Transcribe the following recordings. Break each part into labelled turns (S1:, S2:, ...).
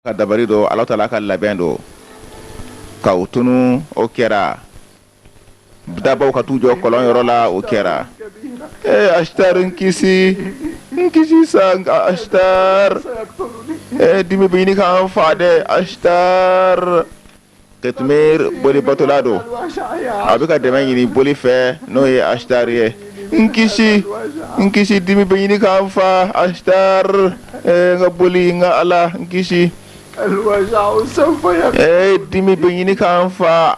S1: ka dabari don ala taala ka labɛn don ka u tunu o kɛra dabaw ka t'u jɔ kɔlɔn yɔrɔ la o kɛra ee Ashtar n kisi n kisi sa Ashtar dimi bɛ ɲini ka n faa dɛ Ashtar Qitmir boli batola don a bɛ ka dɛmɛ ɲini boli fɛ n'o ye Ashtar ye n kisi n kisi dimi bɛ ɲini ka n faa Ashtar n ka boli n ka ala n kisi dimi bɛ ɲini ka n faa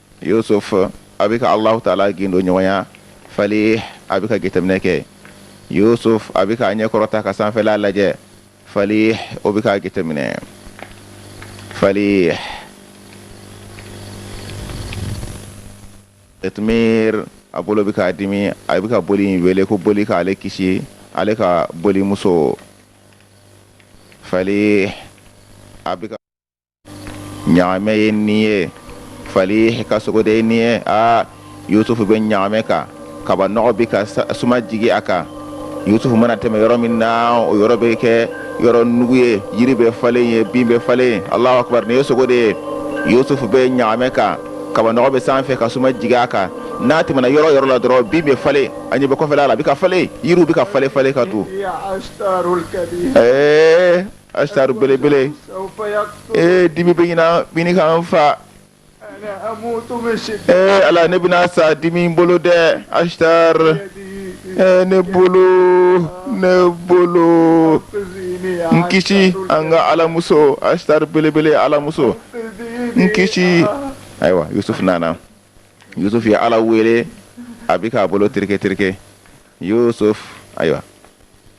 S1: Yusuf a bɛ ka Alahu taala gindo ɲɔgɔnya Falih a bɛ ka jateminɛ kɛ Yusuf a bɛ k'a ɲɛ kɔrɔta ka sanfɛla lajɛ Falih o bɛ k'a jateminɛ Falih Qitmir a bolo bɛ k'a dimi a bɛ ka boli in wele ko boli k'ale kisi ale ka bolimuso Falih a bɛ ka ɲagamɛ ye nin ye falih ka sogo de ye nin ye aa yusufu bɛ ɲagamɛ kan kabanɔgɔ bɛ ka suma jigi a kan yusufu mana tɛmɛ yɔrɔ min na o yɔrɔ bɛ kɛ yɔrɔ nugu ye yiri bɛ falen ye bin bɛ falen alahu akubar nin ye sogo de ye yusufu bɛ ɲagamɛ kan kabanɔgɔ bɛ sanfɛ ka suma jigi a kan n'a tɛmɛna yɔrɔ yɔrɔ la dɔrɔn bin bɛ falen a ɲɛ bɛ kɔfɛla la a bɛ ka falen yiriw bɛ ka falen falen ka to ɛɛ Ashtar belebele ee dimi bɛ ɲini ka n faa ee ala ne bɛna sa dimi bolo dɛ Ashtar ne bolo ne bolo n kisi an ka alamuso Ashtar belebele alamuso n kisi ayiwa Yusuf nana Yusuf ye ala wele a bɛ k'a bolo tereke tereke ayiwa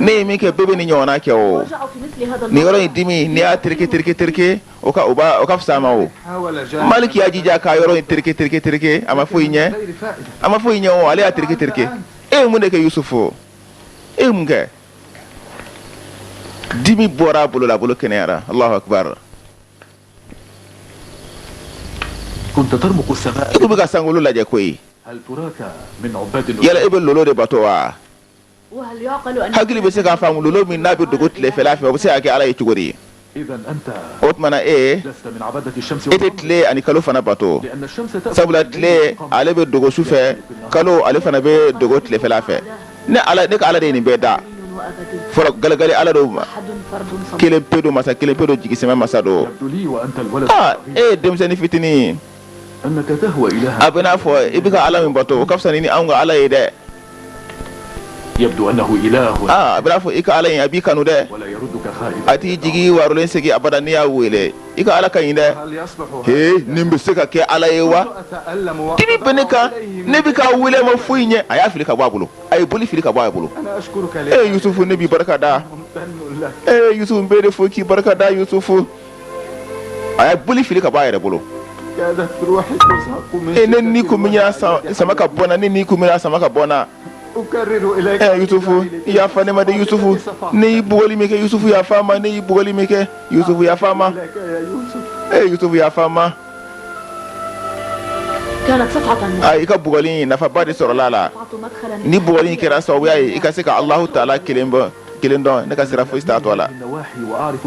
S1: ne ye min kɛ bɛɛ bɛ nin ɲɔgɔnna kɛ o n'i yɔrɔ y'i dimi n'i y'a tereke tereke tereke o ka fisa a ma o Malik y'a jija ka yɔrɔ in tereke tereke tereke a ma foyi ɲɛ a ma foyi ɲɛ o ale y'a tereke tereke e ye mun de kɛ Yusuf e mun kɛ dimi bɔra a bolo la a bolo kɛnɛyara e bɛ ka sankolo lajɛ koyi yala e bɛ lolo de bato wa hakili bɛ se k'a faamu lolo min n'a bɛ dogo tilefɛla fɛ o bɛ se ka kɛ ala ye cogo di o tuma na e e tɛ tile ani kalo fana bato sabula tile ale bɛ dogo su fɛ kalo ale fana bɛ dogo tilefɛla fɛ ne ala ne ka ala de ye nin bɛɛ da fɔlɔ galegale ala don kelen pe don masa kelen pe don jigisɛmɛ masa don e ye denmisɛnnin fitinin ye a bɛ n'a fɔ i bɛ ka ala min bato o ka fisa ni an ka ala ye
S2: dɛ a bɛ n'a fɔ i ka ala
S1: a b'i kanu dɛ a t'i jigi waarolen segin abada n'i y'a weele i ka ala ka ɲi dɛ e nin bɛ se ka kɛ ala ye wa dimi bɛ ne kan ne bɛ k'a weele a ma foyi ɲɛ a y'a fili ka bɔ a bolo a ye boli fili ka bɔ a bolo
S2: e yusufu ne b'i barika
S1: da e yusufu n b'i de fo k'i barika da yusufu a ye boli fili ka bɔ a yɛrɛ bolo e ne ni sama ka bɔ
S2: ni
S1: ni kun sama ka bɔ
S2: ɛ yusufu
S1: yafa ne ma dɛ yusufu ne y'i bugɔli min kɛ yusufu yafa n ma ne y'i bugɔli min kɛ yusufu yafa n ma
S2: ɛ yusufu yafa n
S3: ma a i ka bugɔli
S1: in nafaba de sɔrɔla a la ni bugɔli
S3: in kɛra
S1: sababu ye i ka se ka alahu taala kelen pe kelen dɔn ne ka sira foyi t'a tɔ
S2: la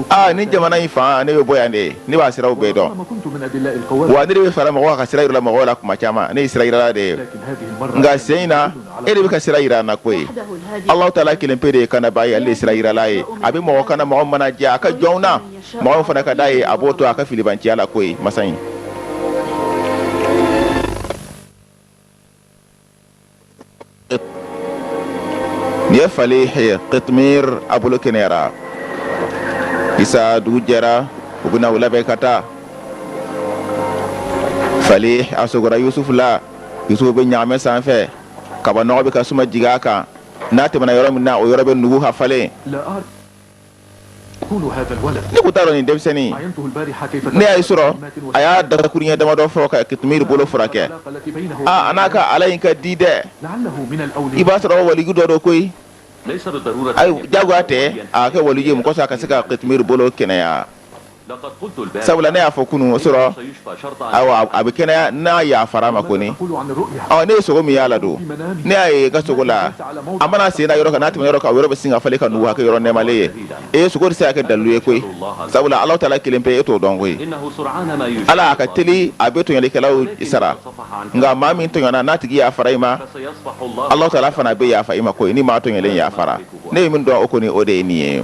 S2: aa nin jamana in
S1: fan ne bɛ bɔ yan de ye ne b'a siraw bɛɛ
S2: dɔn wa ne de bɛ fara mɔgɔw ka
S1: sira jira mɔgɔw la kuma caman ne ye sirajirala de ye nka
S2: sen in na
S1: e de bɛ ka sira jira n na koyi alahu
S3: taala kelen pe de
S1: ye kanabaa ye ale de ye sirajirala ye a bɛ mɔgɔ kana mɔgɔ min mana diya a ka jɔnw na mɔgɔ min fana ka d'a ye a b'o to a ka filibanciya la koyi masa in Nin ye falihi kitumiri a bolo kɛnɛyara ayisa dugu jɛra u bɛna u labɛn ka taa falihi a sogora yusufu la yusufu bɛ ɲaamɛ sanfɛ kabanɔgɔ bɛ ka suma jigin a kan n'a tɛmɛna yɔrɔ min na o yɔrɔ bɛ nugu ka falen
S2: ne ko t'a dɔn nin denmisɛnnin ne y'a ye su
S1: rɔ a y'a dakuruɲɛ damadɔ fɔ ka kitumiri bolo furakɛ aa
S2: a n'a ka ala in
S1: ka di
S2: dɛ i b'a sɔrɔ
S1: waliju
S2: dɔ
S1: don koyi
S4: ayi jagoya tɛ
S1: a kɛ waliju ye mun kɔsɔn a ka se ka kitumiri bolo kɛnɛya
S4: sabula ne y'a fɔ
S1: kunun su
S4: rɔ a bɛ
S1: kɛnɛya n'a yafara a ma kɔni ne
S2: ye sogo min y'a la don
S1: ne y'a ye n ka sogo la a mana sen da yɔrɔ kan n'a tɛmɛna yɔrɔ kan o yɔrɔ bɛ sin ka falen ka nugu a kɛ yɔrɔ nɛmalen ye ayi sogo tɛ se ka kɛ dalilu ye koyi sabula alahu taala kelen pe e t'o dɔn
S4: koyi ala a ka teli
S1: a bɛ tɔɲɔlikɛlaw sara nka maa min tɔɲɔna n'a tigi yafara i ma
S4: alahu taala fana bɛ yafa
S1: i ma koyi ni maa tɔɲɔlen yafara ne ye min dɔn o kɔni o de ye nin ye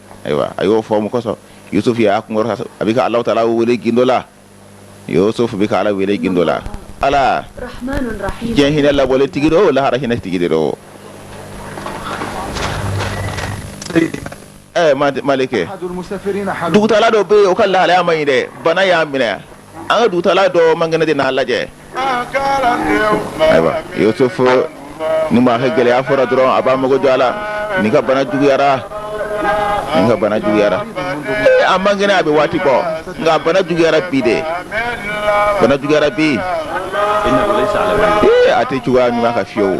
S1: ayiwa a y'o fɔ min kosɔn yusuf y'a kun kɔrɔta a bɛ ka alahu taala wele gindo la yusuf bɛ ka ala wele gindo la ala diɲɛ
S3: hinɛ labɔlen tigi
S1: don lahara hinɛ tigi de don
S2: maliki dugutaala dɔ bɛ yen o ka
S1: lahalaya ma ɲi dɛ bana y'a minɛ an ka dugutala dɔ man kɛnɛ de n'a lajɛ ayiwa yusufu ni maa ka gɛlɛya fɔra dɔrɔn a b'a mago jɔ a la nin ka bana juguyara nin ka bana juguyara ee a man kɛnɛ a bɛ waati bɔ nka bana juguyara bi de bana juguyara bi
S4: ee a tɛ cogoya ɲuman
S1: kan fiyewu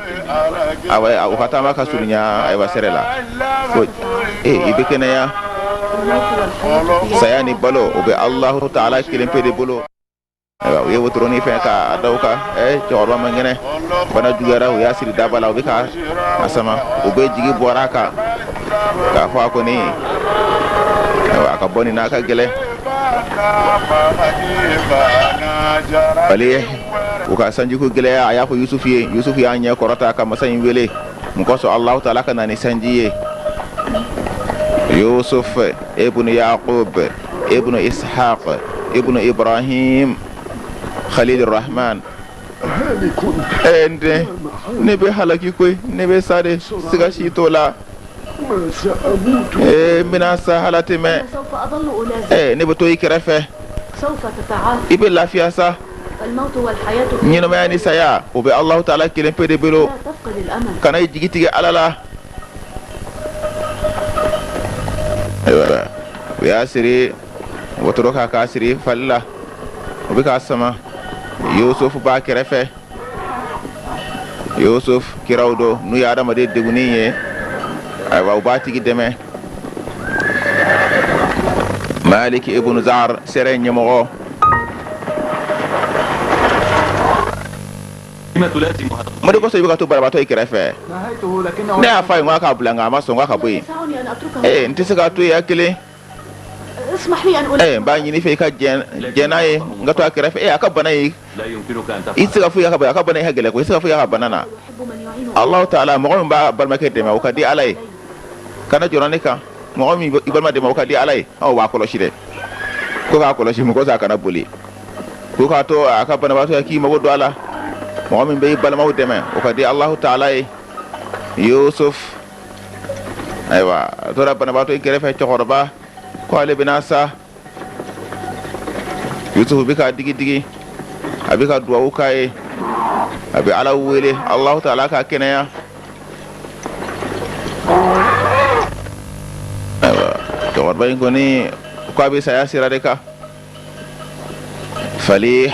S1: u ka taama ka surunya ayiwa sɛrɛ la ko ee i bɛ kɛnɛya saya ni balo o bɛ alahu taala kelen pe de bolo ayiwa u ye wotoroni fɛn k'a da o kan ee cɛkɔrɔba man kɛnɛ bana juguyara u y'a siri daba la u bɛ ka a sama u bɛɛ jigi bɔra a kan k'a fɔ a kɔni ayiwa a ka bɔ nin na ka gɛlɛn falih u ka sanjiko gɛlɛya a y'a fɔ yusufu ye yusufu y'a ɲɛ kɔrɔta ka masa in wele mun kosɔn alahu taala ka na ni sanji ye yusuf ibnu yaqub ibnu ishaq ibnu ibrahim khalil rahman ee n den ne bɛ halaki koyi ne bɛ sa de siga si t'o la ee n bɛna sa hala tɛmɛ
S3: ee ne bɛ to i kɛrɛfɛ i bɛ lafiya sa ɲɛnamaya ni saya
S1: o bɛ alahu taala kelen pe de
S3: bolo kana i jigi tigɛ ala la
S1: ayiwa u y'a siri wotoro kan k'a siri fali la o bɛ k'a sama yusufu b'a kɛrɛfɛ yusufu kiraw don n'u ye adamaden degunnen ye ayiwa u b'a tigi dɛmɛ maliki ibn zar sɛrɛ
S4: ɲɛmɔgɔ mun de kosɔn i bɛ ka to banabaatɔ
S1: in
S2: kɛrɛfɛ ne y'a fɔ a ye n
S1: k'a k'a
S2: bila
S1: nka a ma sɔn k'a ka bɔ yen ee n tɛ
S3: se
S1: k'a to yen a
S3: kelen ee n b'a ɲini fɛ i ka
S1: jɛn n'a ye n ka to a kɛrɛfɛ ee a ka bana ye
S4: I se ka foyi a ka bana
S1: i gɛlɛn ko i se ka foyi' ka bana na
S3: alahu taala mɔgɔ min
S1: b'a balimakɛ dɛmɛ o ka di ala ye kana jɔ ne kan mɔgɔ i balima dɛmɛ o ka di ala ye aw b'a kɔlɔsi dɛ ko k'a kɔlɔsi mun kosɔn a kana boli ko k'a to a ka banabagatɔ k'i mago don a la mɔgɔ min bɛ i balimaw dɛmɛ o ka di alahu taala ye yusufu ayiwa a tora banabagatɔ in kɛrɛfɛ cɛkɔrɔba ko ale bɛna sa yusufu bɛ k'a digidigi a bɛ ka dugawu k'a ye a bɛ ala wele alahu taala k'a kɛnɛya ayiwa cɛkɔrɔba in kɔni k'a bɛ saya sira de kan falih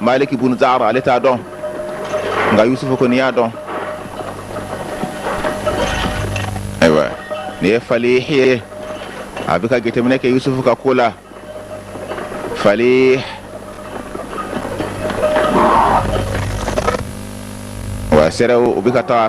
S1: maliki bun zar ale t'a dɔn nka yusufu kɔni y'a dɔn ayiwa nin ye falih ye a bɛ ka jateminɛ kɛ yusufu ka ko la falih wa sɛrɛw u bɛ ka taa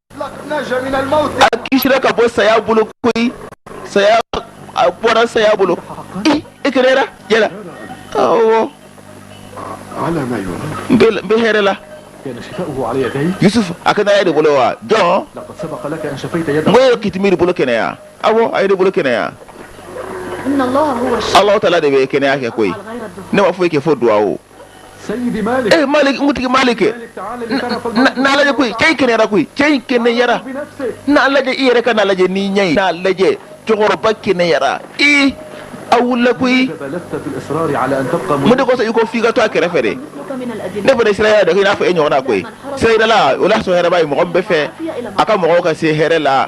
S2: a kisira ka
S1: bɔ saya bolo koyi saya a bɔra saya bolo i i kɛnɛyara awɔ
S2: n bɛ hɛrɛ la yusuf a kɛnɛyara e
S1: de bolo wa
S2: jɔn n ko i ye kitimir bolo
S1: kɛnɛya awɔ a ye ne bolo kɛnɛya
S3: ala tala de bɛ kɛnɛya
S1: kɛ koyi ne ma foyi kɛ
S3: fo duwawu
S2: ee malik n kuntigi malik n'a lajɛ koyi cɛ in
S1: kɛnɛyara koyi cɛ in kɛnɛyara n'a lajɛ
S2: i yɛrɛ ka
S1: n'a lajɛ n'i ɲɛ ye n'a lajɛ cɛkɔrɔba kɛnɛyara i a wulila
S2: koyi mun de kosɔn i ko f'i ka
S1: to a kɛrɛfɛ de
S3: ne fana sira yɛrɛ dɔ k'i n'a fɔ
S1: e ɲɔgɔnna koyi sirayirala o la sɔn hɛrɛba ye mɔgɔ min b'a fɛ a ka mɔgɔw ka se hɛrɛ la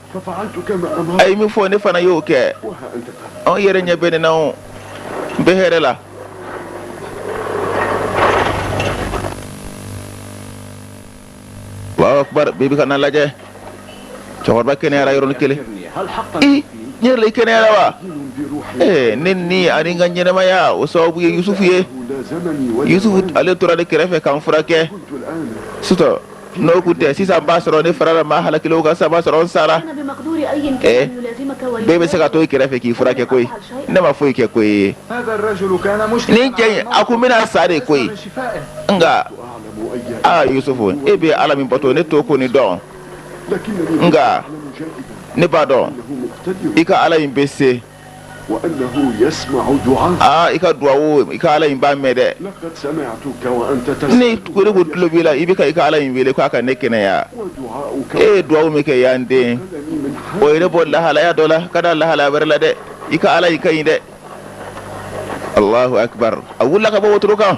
S2: a ye min fɔ ne fana
S1: y'o kɛ
S2: aw yɛrɛ ɲɛ bɛ ne na
S1: o n bɛ hɛrɛ la Allahu akbar bɛɛ bɛ ka n'a lajɛ cɛkɔrɔba kɛnɛyara yɔrɔnin kelen
S2: tiɲɛ yɛrɛ la i
S1: kɛnɛyara wa
S2: ee ne ni ani n
S1: ka ɲɛnɛmaya o sababu ye Yusufu ye Yusufu
S2: ale tora ne
S1: kɛrɛfɛ ka n furakɛ
S2: su tɔ
S1: N'o tun tɛ sisan b'a sɔrɔ ne farala maa halakilenw kan sisan b'a sɔrɔ n
S3: sara,
S1: ɛɛ bɛɛ bɛ
S3: se ka to i kɛrɛfɛ
S1: k'i furakɛ koyi ne ma foyi kɛ koyi,
S2: nin cɛ in a tun
S1: bɛna sa de koyi, nka
S2: aa Yusufu e bɛ
S1: Ala min bato ne t'o kɔni dɔn,
S2: nka ne b'a dɔn
S1: i
S2: ka Ala in bɛ se aa i ka duwawu
S1: i ka Ala in b'a mɛn
S2: dɛ, ne ko ne ko tulo
S1: b'i la
S2: i bɛ
S1: ka i ka Ala in wele k'a ka ne kɛnɛya e
S2: ye duwawu min kɛ yan
S1: dɛ
S2: o ye ne bɔ
S1: lahalaya dɔ la ka da lahalaya wɛrɛ la dɛ i ka Ala in ka ɲi dɛ Alahu akibaru a wulila ka bɔ wotoro kan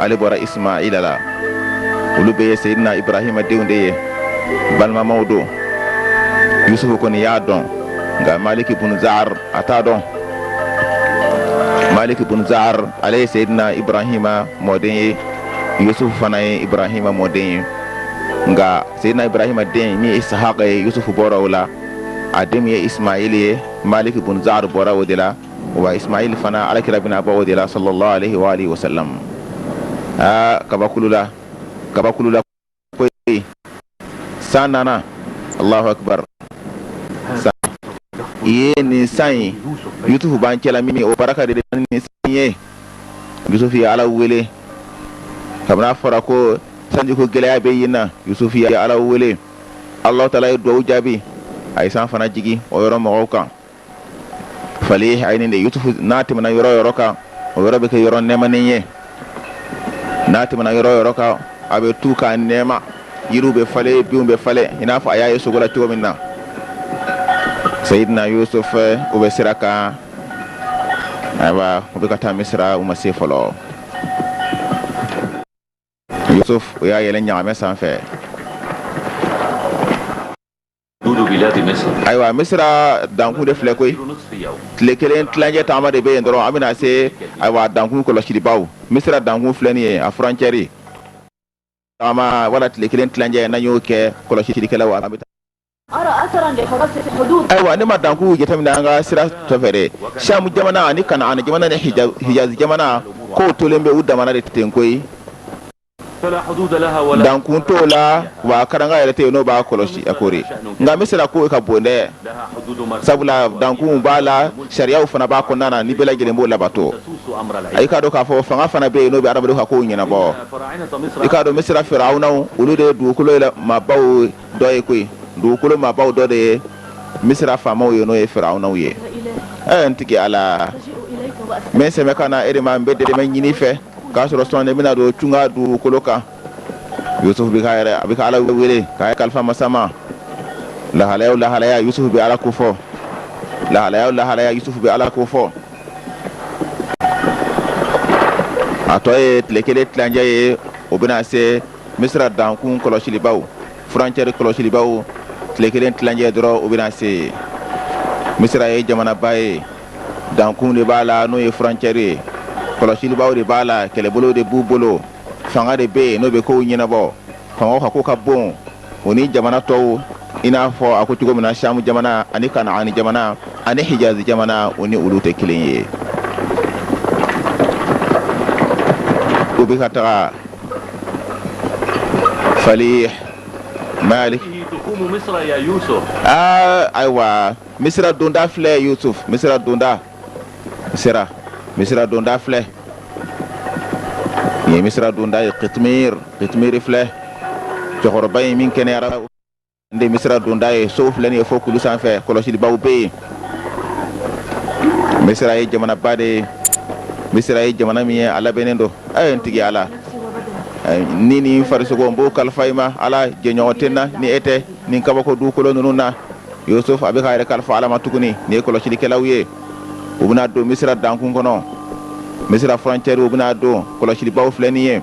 S1: ale bɔra ismaila la olu bɛɛ ye seyidina ibrahima denw de ye balimamaw don yusufu kɔni y'a dɔn nka maliki bun zar a t'a dɔn maliki bun zar ale ye seyidina ibrahima mɔden ye yusufu fana ye ibrahima mɔden ye nka seyidina ibrahima den min ye isahaka ye yusufu bɔra o la a den min ye ismaila ye maliki bun zar bɔra o de la wa ismail fana alakira bɛna bɔ o de la sallallahu alaihi wa alihi wasallam aa kabakulula kabakulula koyi san nana allahu akbar san ye nin san ye yusufu b'an cɛla min o baraka de bɛ nin san ye yusufu ye ala wele kabini a fɔra ko sanjiko gɛlɛya bɛ yen na yusufu ye ala wele alahu taala ye duwawu jaabi a ye san fana jigi o yɔrɔ mɔgɔw kan fali a de yusufu n'a tɛmɛna yɔrɔ yɔrɔ kan o yɔrɔ bɛ kɛ yɔrɔ nɛmanen ye n'a tɛmɛna yɔrɔ yɔrɔ kan a bɛ to ka nɛma yiriw bɛ falen binw bɛ falen i n'a fɔ a y'a ye sugo la cogo min na sayidina yusufu u bɛ sira kan ayiwa u bɛ ka taa misira u ma se fɔlɔ yusufu u y'a yɛlɛ ɲaamɛ sanfɛ
S4: ayiwa
S1: misira dankun de filɛ koyi tile
S4: kelen
S1: tilancɛ taama de bɛ yen dɔrɔn an bɛna se ayiwa dankun kɔlɔsilibaaw misira dankun filɛ nin ye a furancɛri wala tile kelen tilancɛ n'an y'o kɛ kɔlɔsilikɛla
S3: wa ayiwa ne ma dankun
S1: jate minɛ an ka sira tɔ fɛ samu jamana ani kanaani jamana ni hijaz jamana kow tolen bɛ u dama na de ten koyi
S4: dankun t'o
S1: la wa karanka yɛrɛ tɛ yen n'o b'a kɔlɔsi a kori nka misira ko ka bon dɛ
S4: sabula dankun b'a
S1: la sariyaw fana b'a kɔnɔna na ni bɛɛ lajɛlen b'o labato i k'a
S4: dɔn k'a fɔ fanga
S1: fana bɛ yen n'o bɛ hadamaden ka kow ɲɛnabɔ i k'a
S4: dɔn misira
S1: firawunaw olu de ye dugukolo maabaw dɔ ye koyi dugukolo maabaw dɔ de ye misira faamaw ye n'o ye firawunaw ye ɛɛ n
S3: tigi ala n bɛ sɛmɛ ka na i yɛrɛ
S1: ma n bɛ dɛmɛ ɲini i fɛ k'a sɔrɔ sɔɔni ne bɛna don tunga dugukolo kan yusufu bɛ k'a yɛrɛ a bɛ ka ala wele k'a yɛrɛ kalifa masa ma lahalaya o lahalaya yusufu bɛ ala ko fɔ lahalaya o lahalaya yusufu bɛ ala ko fɔ a tɔ ye tile kelen tilancɛ ye u bɛna se misira dankun kɔlɔsilibaaw furancɛri kɔlɔsilibaaw tile kelen tilancɛ dɔrɔn u bɛna se misira ye jamanaba ye dankun de b'a la n'o ye furancɛri ye kɔlɔsilibaaw de b'a la kɛlɛbolo de b'u bolo fanga de bɛ yen n'o bɛ kow ɲɛnabɔ fanga ka ko ka bon o ni jamana tɔw i n'a fɔ a ko cogo min na samu jamana ani kanaani jamana ani hijaz jamana o ni olu tɛ kelen ye u bɛ ka taga fali
S4: maliki ayiwa
S1: misira donda filɛ yusuf misira donda sera misira donda filɛ nin ye misira donda ye kitmir kitmiri filɛ cɛkɔrɔba ye min kɛnɛyara de misira donda ye sow filɛ nin ye fo kulu sanfɛ kɔlɔsilibaw bɛ yen misira ye jamanaba de ye misira ye jamana min ye a labɛnnen don a ye n tigi ala ni ni n farisogo n b'o kalifa i ma ala jɛɲɔgɔn tɛ n na ni e tɛ nin kabako dukolo ninnu na yosufu a bɛ ka yɛrɛ kalifa ala ma tuguni nin ye kɔlɔsilikɛlaw ye u bɛna don misira dankun kɔnɔ misira frontière u bɛna don kɔlɔsilibaw filɛ nin ye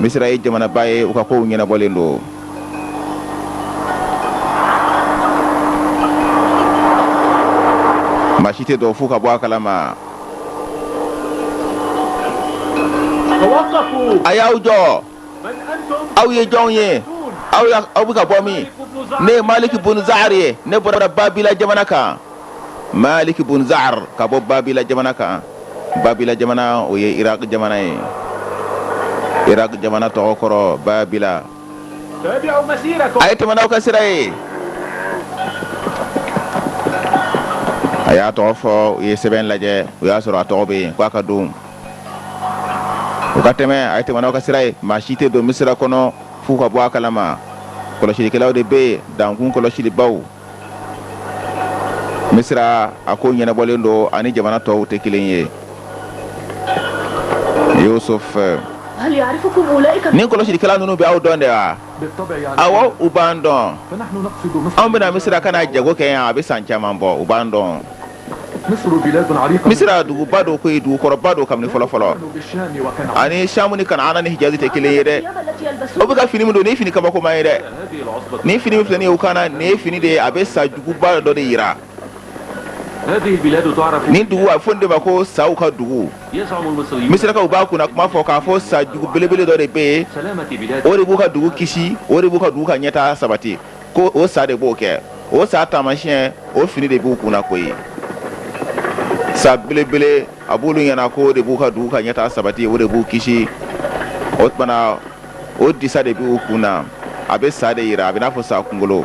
S1: misira ye jamanaba ye u ka kow ɲɛnabɔlen don maa si tɛ don f'u ka bɔ a kalama
S4: a y'aw jɔ aw ye jɔn
S1: ye aw aw bɛ ka bɔ min ne ye maliki bun zaari ye ne bɔra babila jamana kan maliki bun zaari ka bɔ babila jamana kan babila jamana o ye iraki jamana ye iraki jamana tɔgɔ kɔrɔ
S4: babila a ye tɛmɛ n'aw ka sira
S1: ye a y'a tɔgɔ fɔ u ye sɛbɛn lajɛ u y'a sɔrɔ a tɔgɔ bɛ yen k'a ka don u ka tɛmɛ a ye tɛmɛ n'aw ka sira ye maa si tɛ don misira kɔnɔ f'u ka bɔ a kalama kɔlɔsilikɛlaw de bɛ yen dankun kɔlɔsilibaw misira a ko ɲɛnabɔlen don a ni jamana tɔw tɛ kelen ye yosufu
S3: nin kɔlɔsilikɛlaw ninnu
S1: bɛ aw dɔn de wa
S2: awɔ u b'an dɔn an bɛ na misira ka na jago
S1: kɛ yan a bɛ san caman bɔ u b'an dɔn
S2: misira duguba don
S1: koyi dugukɔrɔba don kabini fɔlɔ fɔlɔ a
S2: ni samu ni kanaana
S1: ni hijazi tɛ kelen ye dɛ u bɛ ka
S3: fini min don nin fini
S1: kabakoma ye dɛ
S4: nin fini filɛ u kunna
S1: nin ye fini de ye a bɛ sa juguba dɔ de
S4: jira nin dugu a fɔ de ma
S1: ko saw ka
S4: dugu misirakaw b'a kunna kuma
S1: fɔ k'a fɔ sa jugu belebele dɔ de bɛ yen o de b'u ka dugu kisi
S4: o
S1: de b'u ka dugu ka ɲɛtaa sabati
S4: ko
S1: o sa de b'o kɛ o sa taamasiyɛn o fini de b'u kunna koyi sa belebele a b'olu ɲɛna ko o de b'u ka dugu ka ɲɛtaa sabati o de b'u kisi o tuma na o disa de b'u kun na a bɛ sa de jira a bɛ n'a fɔ sa kunkolo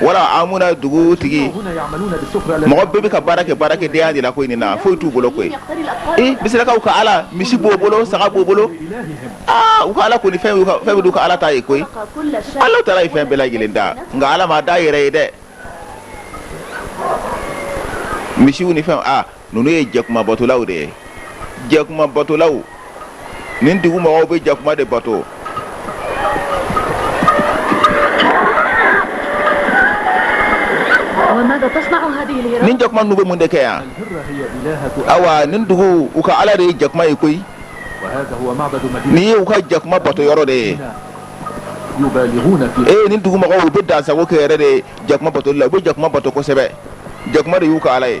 S1: wala amuna dugu tigi mɔgɔ bɛɛ bɛ ka baara kɛ baarakɛdenya de la koyi nin na foyi t'u bolo koyi ee misirakaw ka ala misi b'o bolo saga b'o bolo aa u ka ala kɔni fɛn bɛɛ d'u ka ala ta ye koyi ala taala ye fɛn bɛɛ lajɛlen da nka ala m'a da yɛrɛ ye dɛ misiw ni fɛn ninnu ye jakuma batolaw de ye jakuma batolaw nin dugu mɔgɔw bɛ jakuma de bato nin jakuma ninnu bɛ mun de kɛ yan awa nin dugu u ka ala de ye jakuma ye koyi nin ye u ka jakuma bato yɔrɔ de ye ee nin dugu mɔgɔw u bɛ dansago kɛ yɛrɛ de jakuma batoli la u bɛ jakuma bato kosɛbɛ jakuma de y'u ka ala ye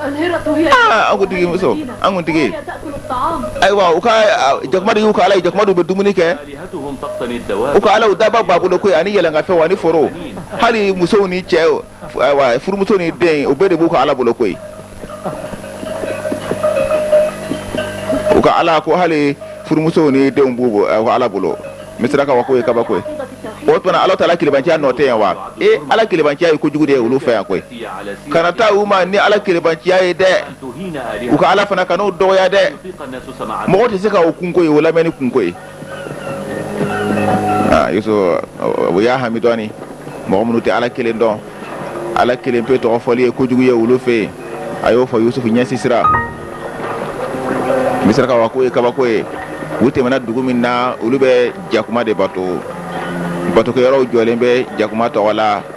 S1: an kuntigi muso an kuntigi ayiwa u ka jakuma de y'u ka ala ye jakuma de bɛ dumuni kɛ u ka ala daba b'a bolo koyi ani yɛlɛnkanfɛn ani foro hali musow ni cɛ ayiwa furumuso ni den u bɛɛ de b'u ka ala bolo koyi u ka ala ko hali furumuso ni denw b'u ka ala bolo misirakaw ka ko ye kabako ye o tuma ala taala kelenbanciya nɔ tɛ yan wa ee ala kelenbanciya ye kojugu de ye olu fɛ yan koyi kana taa u ma ni ala kelenbanciya ye dɛ u ka ala fana kan'o dɔgɔya dɛ mɔgɔ tɛ se ka o kun koyi o lamɛnni kun koyi aa yusufu o y'a hami dɔɔnin mɔgɔ minnu tɛ ala kelen dɔn ala kelen pe tɔgɔ fɔli ye kojugu ye olu fɛ yen a y'o fɔ yusufu ɲɛ sisira misirakaw ka ko ye kabako ye u tɛmɛna dugu min na olu bɛ jakuma de bato batokɛyɔrɔw jɔlen bɛ jakuma tɔgɔ la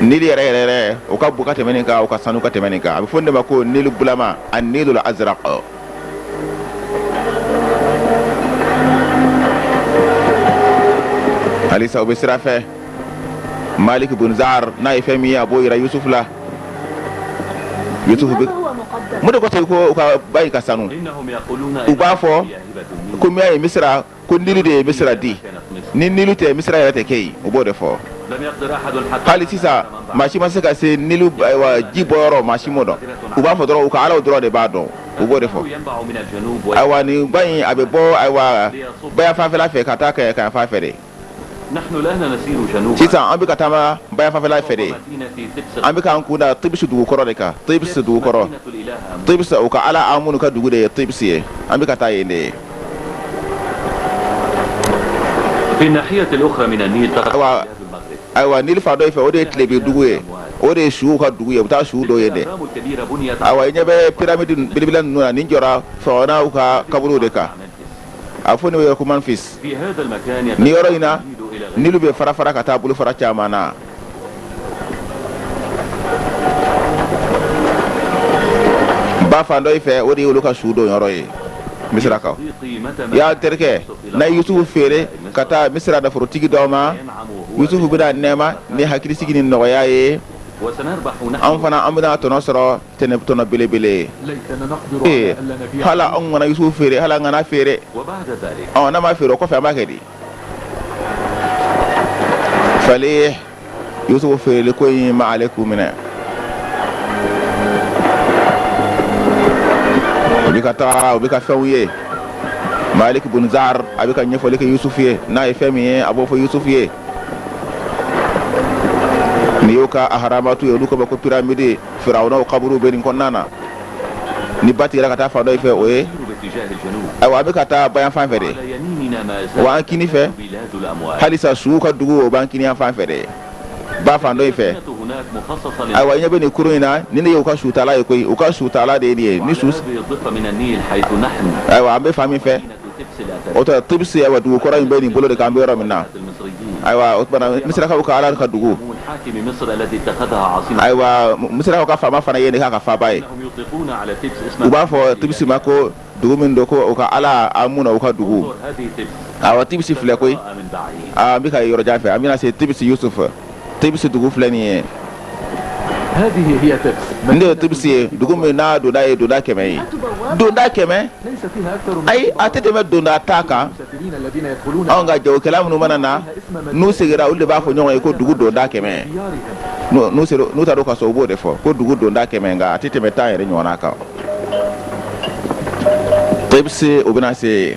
S1: nili yɛrɛ yɛrɛ o ka bon ka tɛmɛ nin kan o ka sanu ka tɛmɛ nin kan a bɛ fɔ nin de ma ko nili bulama an nil azraq halisa u bɛ sira fɛ maliki bun zari n'a ye fɛn min ye a b'o yira yusufu la yusufu mun de ko ten ko u ka ba ka sanu u b'a fɔ ko min y'a ye misi ko nili de ye misira di ni nilu tɛ misira yɛrɛ tɛ kɛ yen u b'o de fɔ hali sisan maa si ma se ka se nilu ji bɔyɔrɔ maa si m'o dɔn u b'a fɔ dɔrɔn u ka alaw dɔrɔn de b'a dɔn u b'o de fɔ ayiwa nin ba in a bɛ bɔ ayiwa bayanfanfɛla fɛ ka taa kayanfanfɛ de sisan an bɛ ka taama bayanfanfɛla fɛ de an bɛ k'an kunda Tebisi dugu kɔrɔ de kan Tebisi dugu kɔrɔ Tebisi u ka Ala Amunu ka dugu de ye Tebisi ye an bɛ ka taa yen de ayiwa ayiwa Nili fan dɔ in fɛ o de ye tilebin dugu ye o de ye suw ka dugu ye u bɛ taa suw don yen de ayiwa i ɲɛ bɛ piramidi belebeleba ninnu na nin jɔra Firawunaw ka kaburuw de kan a fɔ nin yɔrɔ ko manfis nin yɔrɔ in na nilu bɛ fara fara ka taa bolo fara caman na ba fan dɔ in fɛ o de ye olu ka sudonyɔrɔ ye misirakaw y'a terikɛ na yusufu feere ka taa misira naforotigi dɔ ma yusufu bɛna nɛɛma ni hakilisigi ni nɔgɔya ye an fana an bɛna tɔnɔ sɔrɔ ten tɔnɔ belebele ye ee hala anw kana yusufu feere hala an kana feere ɔ n'a ma feere o kɔfɛ an b'a kɛ di fale yusufu feereli ko in ma ale k'u minɛ u bɛ ka taa u bɛ ka fɛnw ye malik bunzar a bɛ ka ɲɛfɔli kɛ yusufu ye n'a ye fɛn min ye a b'o fɔ yusufu ye nin y'u ka aharamatu ye olu k'a ma ko piramidi farawunaw kaburu bɛ nin kɔnɔna na ni ba tigɛra ka taa fan dɔ fɛ o ye ayiwa an bɛ ka taa ba yan fan fɛ de wa an kini fɛ halisa suw ka dugu o b'an kini yan fan fɛ de ba fan dɔ fɛ ayiwa i ɲɛ bɛ nin kurun in na nin de y'u ka sutala ye koyi u ka sutala de ye nin ye ni su ayiwa an bɛ fan min fɛ o tɛ tibisi ayiwa dugu kɔrɔ in bɛ nin bolo de kan an bɛ yɔrɔ min na ayiwa o misirakaw ka ala ka dugu ayiwa misirakaw ka faama fana ye nin k'a ka faaba ye u b'a fɔ tibisi ma ko dugu min don ko u ka ala amuna o ka dugu ayiwa tibisi filɛ koyi an bɛ ka yɔrɔjan fɛ an bɛna se tibisi yusufu tibisi dugu filɛ nin ye nin de ye tibisi ye dugu min n'a donda ye donda kɛmɛ ye donda kɛmɛ ayi a tɛ tɛmɛ donda tan kan anw ka jagokɛla minnu mana na n'u segira olu de b'a fɔ ɲɔgɔn ye ko dugu donda kɛmɛ n'u taara u ka so u b'o de fɔ ko dugu donda kɛmɛ nka a tɛ tɛmɛ tan yɛrɛ ɲɔgɔnna kan tibisi u bɛna se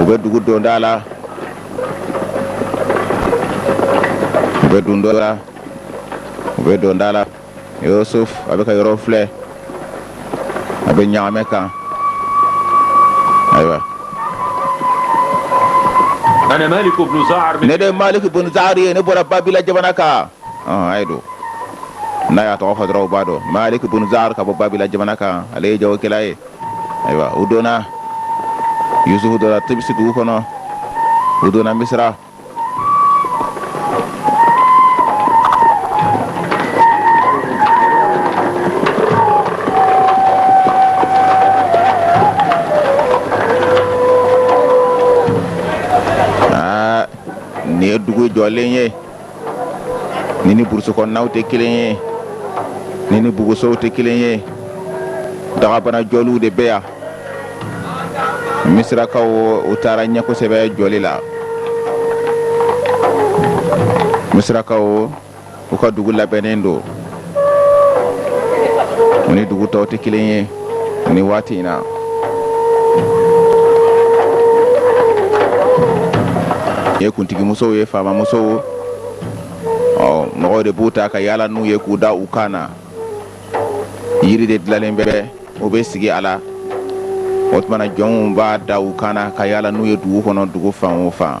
S1: u bɛ dugu donda la u bɛ donda la u bɛ donda la yusufu a bɛ ka yɔrɔ filɛ a bɛ ɲagamɛ kan ayiwa ne de ye malik bunzar ye ne bɔra babila jamana kan a ye don n'a y'a tɔgɔ fɔ dɔrɔn u b'a dɔn malik bunzar ka bɔ babila jamana kan ale ye jagokɛla ye ayiwa u donna yusufu donna tibisi dugu kɔnɔ u donna misira aa nin ye dugu jɔlen ye nin ni burusi kɔnɔnaw tɛ kelen ye nin ni bugusow tɛ kelen ye dagabana jɔliw de bɛ yan misirakaw u taara ɲɛ kosɛbɛ jɔli la misirakaw u ka dugu labɛnnen don u ni dugu tɔw tɛ kelen ye ni waati in na ye kuntigimusow ye faamamusow mɔgɔw de b'u ta ka yaala n'u ye k'u da u kan na yiri de dilanlen bɛ u bɛ sigi a la o tuma na jɔnw b'a da u kan na ka yaala n'u ye dugu kɔnɔ dugu fan o fan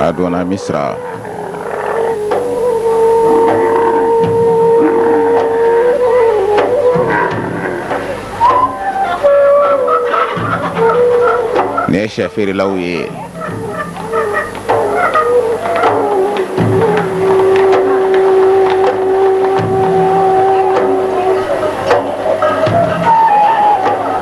S1: a donna misira ni safarilaw ye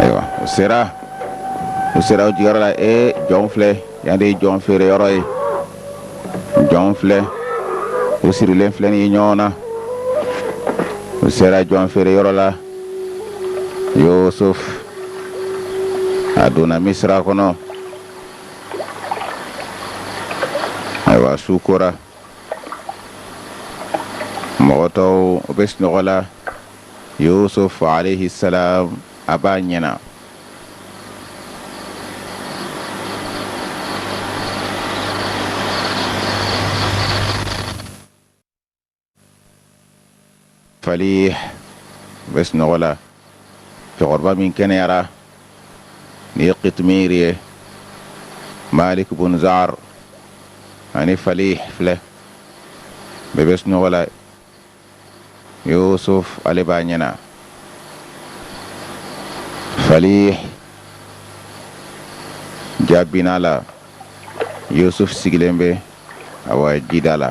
S1: Ayiwa u sera u sera u jigiyɔrɔ la e jɔn filɛ yan de ye jɔn feere yɔrɔ ye jɔn filɛ u sirilen filɛ nin ye ɲɔgɔn na u sera jɔn feere yɔrɔ la Yusuf a donna misira kɔnɔ ayiwa su kora mɔgɔ tɔw u bɛ sunɔgɔ la Yusuf alayhi salam a b'a ɲɛna Falih bɛ sunɔgɔ la cɛkɔrɔba min kɛnɛyara nin ye Kitimiri ye Maliki bun Zar ani Falih filɛ bɛɛ bɛ sunɔgɔ la Yusuf ale b'a ɲɛna Falih jaabina la Yusuf sigilen bɛ awa jida la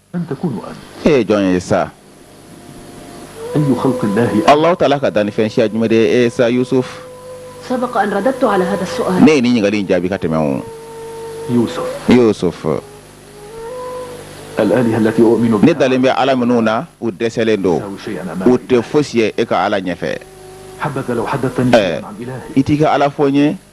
S2: e ye jɔn
S1: ye sa
S2: Allahu taala ka dannifɛn
S1: siya jumɛn de ye sa
S3: Yusuf ne ye nin ɲininkali in jaabi ka
S1: tɛmɛ o
S2: Yusuf ne dalen bɛ ala
S1: minnu na u dɛsɛlen don u tɛ
S2: fosi ye e ka
S1: ala ɲɛfɛ
S2: i t'i ka ala fɔ
S1: n ye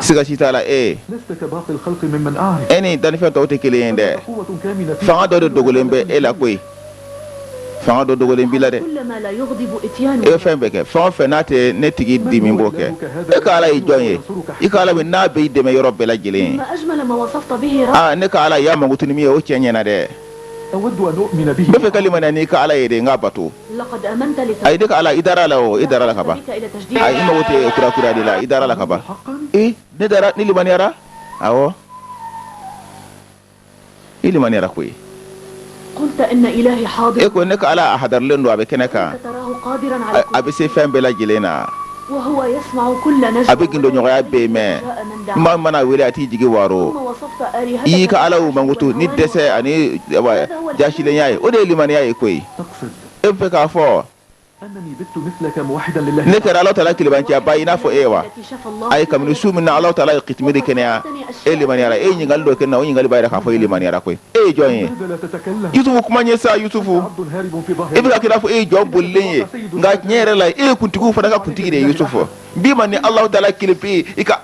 S2: siga si t'a la e e ni dannifɛn tɔw tɛ
S1: kelen ye dɛ fanga
S2: dɔ de dogolen bɛ e
S1: la koyi fanga dɔ dogolen b'i la
S3: dɛ e bɛ fɛn bɛɛ kɛ fɛn
S1: o fɛn n'a tɛ ne tigi dimi n b'o kɛ e ka ala ye jɔn ye i ka ala min n'a bɛ i dɛmɛ yɔrɔ bɛɛ lajɛlen na
S3: e ka ala i y'a mankutu
S1: ni min ye o cɛ ɲɛna dɛ
S2: bɛ fɛ ka limaniya n'i ka
S1: Ala ye de n k'a
S3: bato ayi ne ka Ala i
S1: dara a la o i dara a la ka ban ayi i mago
S3: tɛ kura
S1: kurayali la i dara a la ka ban i ne dara
S2: ne limaniyara
S1: awɔ i limaniyara
S3: koyi e ko ne ka Ala a
S1: hadarilen don a bɛ kɛnɛ kan
S3: a bɛ se fɛn bɛɛ lajɛlen
S1: na
S3: a bɛ
S1: gindoɲɔgɔnya
S3: bɛɛ
S1: mɛn maa
S3: man'a wele a t'i
S1: jigi
S3: waro i y'i ka alaw mankutu
S1: ni dɛsɛ ani jasilenya ye o de ye limaniya ye koyi e bɛ
S2: fɛ k'a fɔ ne kɛra ala taala
S1: kelenbanciyaba i n'a fɔ e wa ayi kabini
S3: su min na
S1: ala taala ye kitimiri kɛnɛya e limaniyara e ye ɲininkali dɔ kɛ n na o ɲininkali b'a yira k'a fɔ e limaniyara koyi e ye jɔn ye
S2: yusufu kuma n ye
S1: sa
S2: yusufu e bɛ ka kɛ i n'a fɔ e ye
S1: jɔn bolilen ye nka tiɲɛ yɛrɛ la e ye kuntigiw fana ka kuntigi de ye yusufu n b'i ma ni ala taala kelen pe ye i ka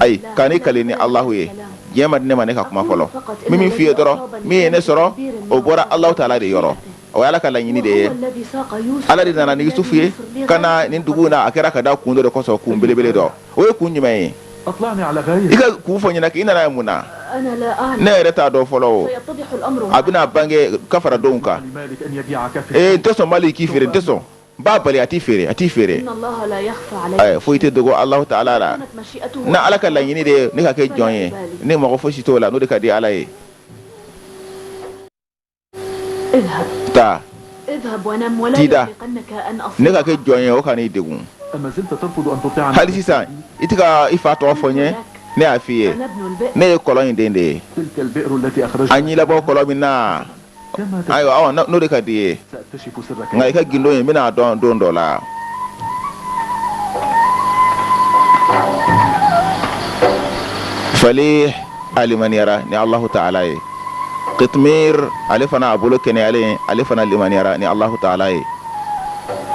S3: ayi kan'i kale ni
S1: alahu ye diɲɛ ma di ne ma ne ka kuma fɔlɔ min min f'i ye dɔrɔn min ye ne sɔrɔ o bɔra ala taala de yɔrɔ o ye ala ka laɲini de ye
S3: ala de nana ni yusufu ye
S1: ka na nin dugu na a kɛra ka da kun dɔ de kɔsɔn kun belebele dɔ o ye kun jumɛn ye
S2: i ka
S1: kun fɔ n ɲɛ
S2: na kɛ i
S1: nana yan mun na ne
S3: yɛrɛ t'a dɔn fɔlɔ
S1: o a bɛna bange ka fara
S3: don
S1: kan ee n tɛ sɔn maliki k'i feere
S2: n tɛ sɔn
S1: n b'a bali a t'i feere a t'i
S3: feere foyi tɛ dogo alahu
S1: taala la n'ala
S3: ka laɲini de
S1: ye ne ka kɛ jɔn ye ne mago fosi t'o la n'o de ka di ala ye
S3: taa t'i
S1: da
S3: ne ka kɛ jɔn ye
S1: o kan'i
S2: degun hali sisan i tɛ
S1: ka i fa tɔgɔ fɔ n ye ne y'a f'i ye ne ye
S3: kɔlɔn in den de ye
S2: a ye n labɔ kɔlɔn min
S1: na
S2: ayiwa n'o de
S1: ka di i ye
S2: nka i ka gindo in n
S1: bɛn'a dɔn don dɔ la fali a limaniyara ni Alahu taala ye Kitimiri ale fana a bolo kɛnɛyalen ale fana limaniyara ni Alahu taala ye,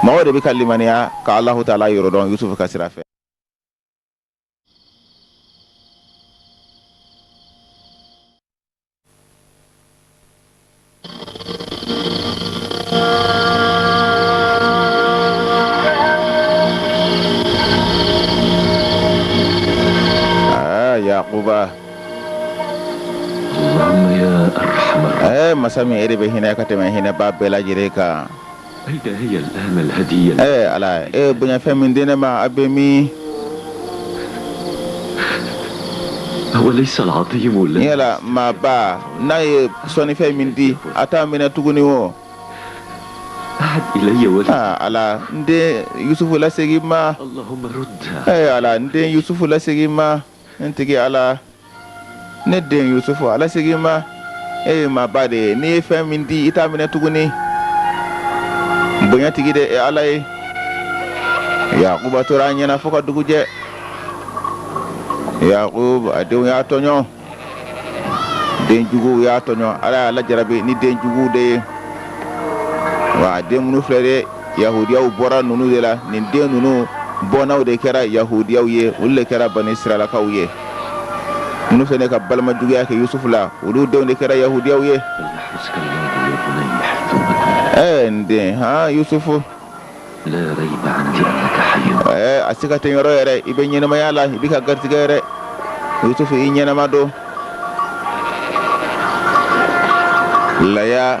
S1: mɔgɔw de bɛ ka limaniya ka Alahu taala yɔrɔ dɔn Yusufu ka sira fɛ.
S4: Ɛɛ masa min e de bɛ
S1: hinɛ ka tɛmɛ hinɛbaa bɛɛ lajɛlen
S4: kan ɛɛ ala e
S1: bonyafɛn min di ne ma a bɛ min
S4: yala
S1: maaba n'a ye sɔnnifɛn min di a t'a minɛ tuguni
S4: o ala n
S1: den yusufu lasegin n ma
S4: ala n den
S1: yusufu lasegin n ma n tigi ala ne den yusufu a lasegin n ma e ye maaba de ye n'i ye fɛn min di i t'a minɛ tuguni bonyatigi de e ala ye yakuba tora a ɲɛna fo ka dugu jɛ yakuba a denw y'a tɔɲɔ den juguw y'a tɔɲɔ ala y'a lajarabi ni den juguw de ye wa den minnu filɛ de yahudiyaw bɔra ninnu de la nin den ninnu bɔnnaw de kɛra yahudiyaw ye olu de kɛra bani sirayilakaw ye minnu fana ka balima juguya kɛ yusufu la olu denw de kɛra yahudiyaw ye
S4: ɛɛ n den
S1: han
S4: yusufu ɛɛ a siga
S1: tɛ n yɔrɔ yɛrɛ i bɛ ɲɛnamaya la i bɛ ka garijɛgɛ yɛrɛ yusufu i ɲɛnama don laya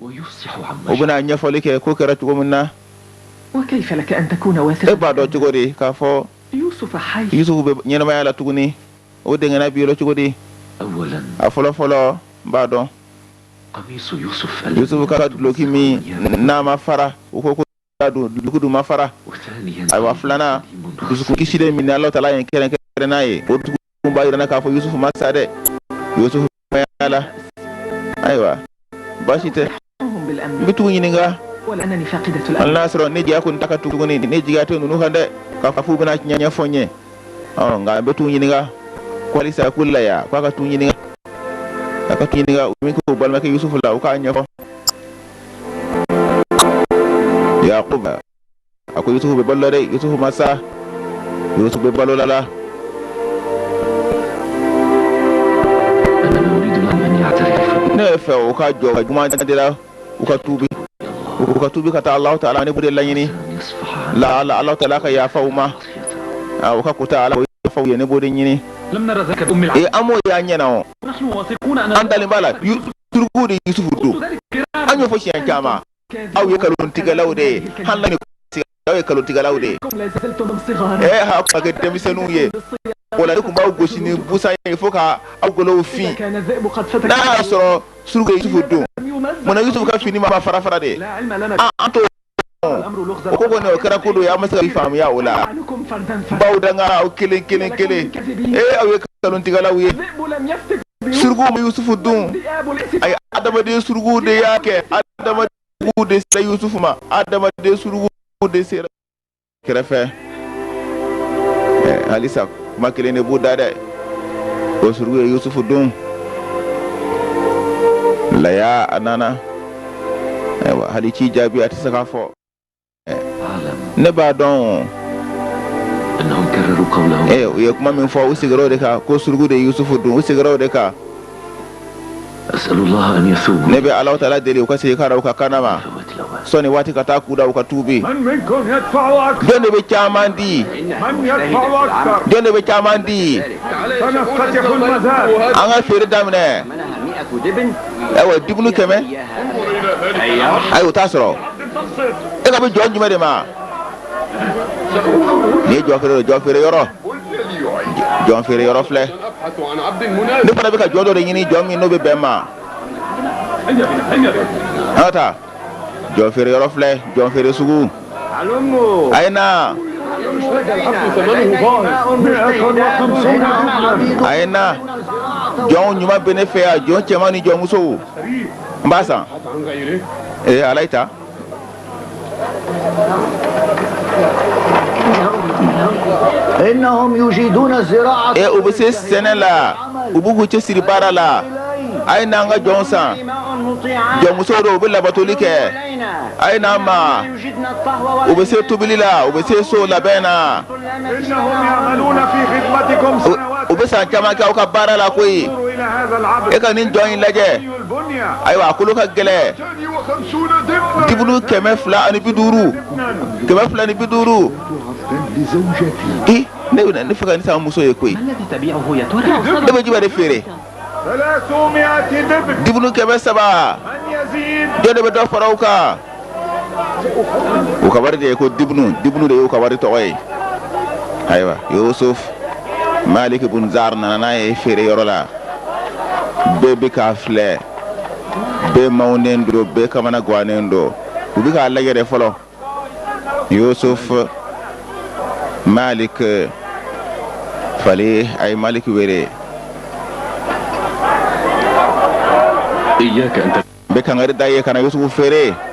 S4: u bɛna
S1: ɲɛfɔli kɛ
S4: ko
S1: kɛra cogo min
S5: na e b'a dɔn
S1: cogo
S5: di k'a fɔ yusufu bɛ ɲɛnamaya la
S1: tuguni o dɛnkɛnɛya b'i yɔrɔ cogo di
S4: a fɔlɔ
S1: fɔlɔ n b'a
S4: dɔn yusufu ka duloki
S1: min n'a ma fara u ko duloki dun ma fara
S4: ayiwa
S1: filanan dusukun kisilen min ala taala ye n kɛrɛnkɛrɛn n'a ye o dusukun b'a jira k'a fɔ yusufu ma sa dɛ yusufu bɛ ɲɛnamaya la ayiwa baasi tɛ n bɛ t'u
S5: ɲininka hali n'a y'a sɔrɔ ne jigiya
S1: kɔni t'u
S5: kan
S1: tugu ne jigiya tɛ ninnu kan dɛ k'a fɔ u bɛna tiɲɛ ɲɛfɔ n ye nka an bɛ t'u ɲininka halisa ko laya k'a ka t'u ɲininka u ye min kɛ u balimakɛ yusufu la u k'a ɲɛfɔ yakuba ko yusufu bɛ balo la dɛ yusufu ma sa yusufu bɛ balo la
S4: ne b'a fɛ
S1: u ka
S4: jɔ
S1: u ka juguman de la u ka tuubi u ka tuubi ka taa alahu taala ne b'o de laɲini
S4: la ala alahu taala
S1: ka yafa u ma a u ka ko taa ala o yafa u ye ne b'o de ɲini
S2: ee an m'o y'an ɲɛ na o an dalen b'a la
S1: suruku de ye yusufu dun an y'o
S2: fɔ
S1: siɲɛ caman aw ye kalontigɛlaw de ye hali na ni aw ye kalontigɛlaw de ye
S5: ɛɛ aw ka kɛ
S1: denmisɛnninw ye o la ne tun b'aw gosi ni busan ye fo ka aw golow fin
S5: n'a y'a sɔrɔ
S1: suruku ye yusufu dun mun na yusufu ka
S5: fini ma
S1: fara fara dɛ ɛɛ an t'o
S5: o ko kɔni o kɛra ko dɔ
S1: ye an ma se k'a faamuya ala
S5: b'aw danga aw kelen
S1: kelen kelen ee aw ye kalontigɛlaw ye
S5: suruku ma
S1: yusufu dun ayi
S5: adamaden
S1: suruku de y'a kɛ adamaden suruku de sera yusufu ma adamaden suruku de sera kɛrɛfɛ halisa kuma kelen de b'u da dɛ ko suruku ye yusufu dun laya a nana ayiwa hali ci jaabi a tɛ se k'a fɔ ne b'a
S4: dɔn u ye kuma min fɔ u
S1: sigira o de kan ko suruku de ye yusufu dun u sigira o de kan
S4: Ne bɛ ala taala deli u
S1: ka se ka u ka kaana wa sɔni waati ka taa k'u dan u ka
S5: tubi jɔn de bɛ caman di jɔn de bɛ caman di an ka feere
S1: daminɛ ayiwa dibinu kɛmɛ ayi o t'a sɔrɔ e kan bɛ jɔn jumɛn de ma ni jɔ jɔn feere yɔrɔ jɔn feere yɔrɔ filɛ ne fana bɛ ka jɔn dɔ de ɲini jɔn min n'o bɛ bɛn n ma an ka taa jɔn feere yɔrɔ filɛ jɔn feere sugu a ye na a ye na jɔn ɲuman bɛ ne fɛ yan jɔn cɛman ni jɔn musow n b'a san ee ala ye ta
S6: E u bɛ se sɛnɛ
S1: la u b'u cɛsiri baara la a ye n'an ka jɔn san jɔnmuso don u bɛ labatoli kɛ a ye n'an ma u bɛ se tobili la u bɛ se so labɛn
S5: na u bɛ san caman kɛ aw ka
S1: baara la koyi
S5: e ka nin jɔn in lajɛ
S1: ayiwa
S5: a kolo ka
S1: gɛlɛn
S5: Dibinu kɛmɛ
S1: fila ani bi duuru kɛmɛ fila ni bi duuru ne b'a fɛ ka nin san muso ye koyi
S2: ne bɛ jumɛn de feere
S5: dibinu kɛmɛ saba jɔn de bɛ dɔ fara
S1: o kan u ka wari de ye ko dibinu dibinu de y'u ka wari tɔgɔ ye ayiwa yusufu maliki bun zari nana n'a ye feere yɔrɔ la bɛɛ bɛ k'a filɛ bɛɛ makunnen don bɛɛ kamanagannen don u bɛ k'a lajɛɛrɛ fɔlɔ yusufu malik fali a ye malik
S4: wele bɛ kanga da ye
S1: kana yusufu feere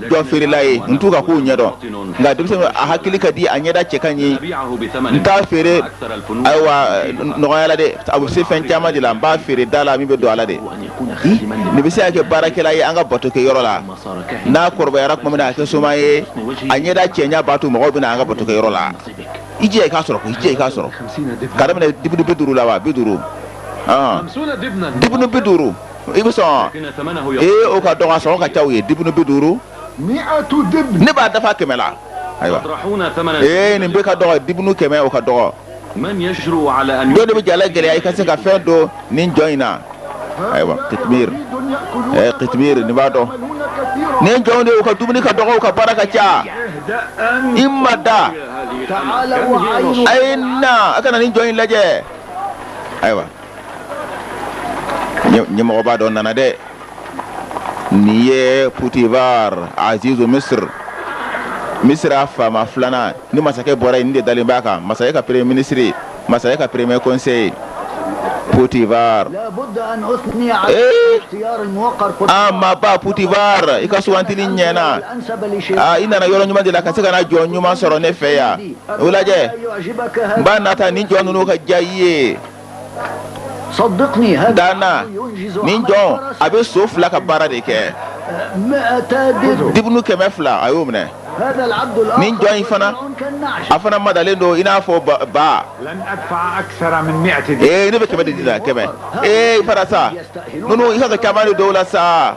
S1: jɔn feerela ye n t'u ka kow ɲɛdɔn nka denmisɛnnin a hakili ka di a ɲɛda cɛ ka ɲi n t'a feere ayiwa nɔgɔya la dɛ a bɛ se fɛn caman de la n b'a feere da la min bɛ don a la de nin bɛ se ka kɛ baarakɛla ye an ka bato kɛ yɔrɔ la n'a kɔrɔbayara tuma min na a kɛ soma ye a ɲɛda cɛɲa b'a to mɔgɔw bɛ na an ka bato kɛ yɔrɔ la i jɛ i k'a sɔrɔ ko i jɛ i k'a sɔrɔ ka daminɛ dibunu bi duuru la wa bi duuru dibunu bi duuru i bɛ sɔn ee o ka dɔgɔ a sɔngɔ ka ca o ye dibunu bi duuru
S5: ne b'a dafa kɛmɛ
S1: la ayiwa ee nin bɛɛ ka dɔgɔ dibunu kɛmɛ o ka dɔgɔ
S4: jɔn de bɛ ja lagɛlɛya i ka se
S1: ka fɛn don nin jɔn in na ayiwa kitimir kitimir n'i b'a dɔn nin jɔn de o ka dumuni ka dɔgɔ o ka baara ka ca i ma da
S6: a na a ka
S1: na nin jɔn in lajɛ ayiwa ɲɛmɔgɔba dɔ nana dɛ nin ye putivar aziz misira misira faama filanan ni masakɛ bɔra yen nin de dalen b'a kan masakɛ ka premier ministre masakɛ ka premier conseil
S6: putivar aa
S1: maaba putivar i ka sugandili ɲɛna
S6: i nana yɔrɔ ɲuman de la ka
S1: se ka na jɔn ɲuman sɔrɔ ne fɛ yan u lajɛ n
S6: b'a nata nin jɔn
S1: ninnu ka diya i ye
S6: da
S1: n na nin
S6: jɔn
S1: a bɛ so fila ka baara de kɛ
S6: dibunu kɛmɛ fila a
S1: y'o minɛ
S6: nin jɔn in
S1: fana a
S6: fana madalen don
S1: i n'a fɔ
S5: ba ne bɛ kɛmɛ di a la kɛmɛ
S1: ee fara sa ninnu i ka kamalen dɔ la sa